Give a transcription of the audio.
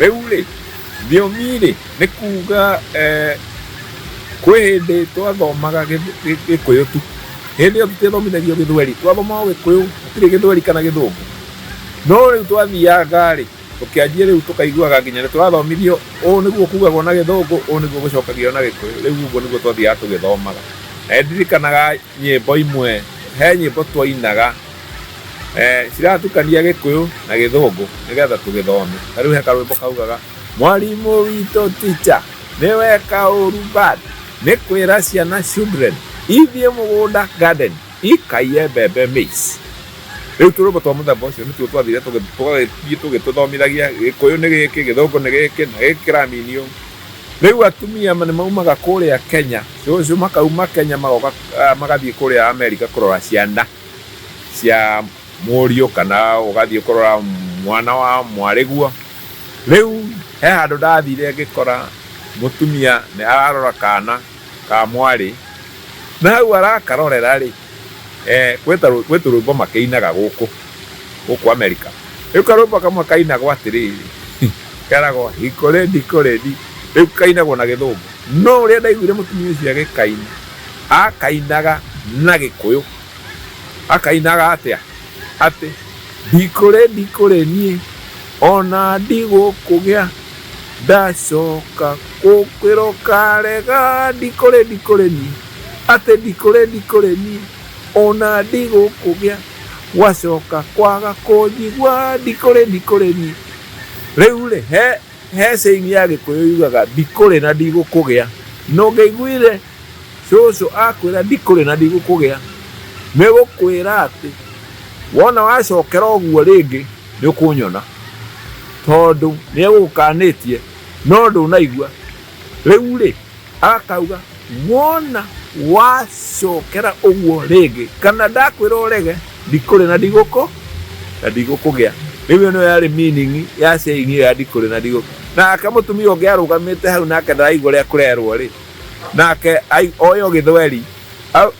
Rĩu rĩ, thiomi rĩ, nĩ kuga eh, kwĩ hĩndĩ twathomaga gĩkũyũ tu hĩndĩ ĩyo tũtiathomithagio gĩthweri twathomaga gĩkũyũ gũtirĩ gĩthweri kana gĩthũngũ no rĩu twathianga rĩ tũkĩanjia rĩu tũkaiguaga nginya nĩ tũrathomithio ũũ nĩguo kugagwo na gĩthũngũ ũũ nĩguo gũcokagio na gĩkũyũ rĩu ũguo nĩguo twathiaga tũgĩthomaga na ndirikanaga nyĩmbo imwe he nyĩmbo twainaga eh, ciratukania gĩkũyũ na gĩthũngũ nĩgetha tũgĩthome ta rĩu he karwĩmbo kaugaga mwarimũ witũ ticha nĩwe kaũru bad nĩ kwĩra ciana children ithiĩ mũgũnda garden ikaiye mbembe maize rĩu tũrũmbo twa mũthemba ũcio nĩtuo twathire tũgagĩthiĩ tũgĩtũthomithagia gĩkũyũ nĩ gĩkĩ gĩthũngũ nĩ gĩkĩ na gĩkĩ kĩraminio rĩu atumia nĩ maumaga kũrĩa kenya cũcũ makauma kenya magoka ah, magathiĩ kũrĩa amerika kũrora ciana cia mũriũ kana ũgathiĩ kũrora mwana wa mwarĩguo. Rĩu he handũ ndathire ngĩkora mũtumia nĩ ararora kana ka mwarĩ, na hau arakarorera rĩ, eh, gwĩ ta rwĩ- gwĩ tũrwĩmbo makĩinaga gũkũ gũkũ Amerika. Rĩu karwĩmbo kamwe kainagwo atĩrĩrĩ, keragwo hikũrĩndi kũrĩndi, rĩu kainagwo na gĩthũngũ. No ũrĩa ndaiguire mũtumia ũcio agĩkaina, Akainaga na Gĩkũyũ. Akainaga atĩa? Atĩ ndikũrĩ ndikũrĩ niĩ ona ndigũkũgĩa ndacoka kũkwĩrwo karega ndikũrĩ ndikũrĩ niĩ atĩ ndikũrĩ ndikũrĩ niĩ ona ndigũkũgĩa wacoka kwaga kũnjigua ndikũrĩ ndikũrĩ niĩ rĩu rĩ he He saying ya Gĩkũyũ yugaga ndikũrĩ na ndigũkũgĩa. Na ũngĩaiguire cũcũ akwĩra ndikũrĩ na ndigũkũgĩa, nĩ gũkwĩra atĩ wona wacokera ũguo rĩngĩ nĩ ũkũnyona. Tondũ nĩ egũgũkanĩtie no ndũnaigua. Rĩu rĩ, Akauga, Wona wacokera ũguo rĩngĩ, kana ndakwĩra ũrege, ndikũrĩ na ndigũkũ na ndigũkũgĩa. Rĩu ĩno yarĩ meaning ya saying ĩyo ya ndikũrĩ na ndigũkũ. Nake mũtumia ũngĩ arũgamĩte hau nake ndaraigua ũrĩa kũrerwo-rĩ, nake oĩ o gĩthweri.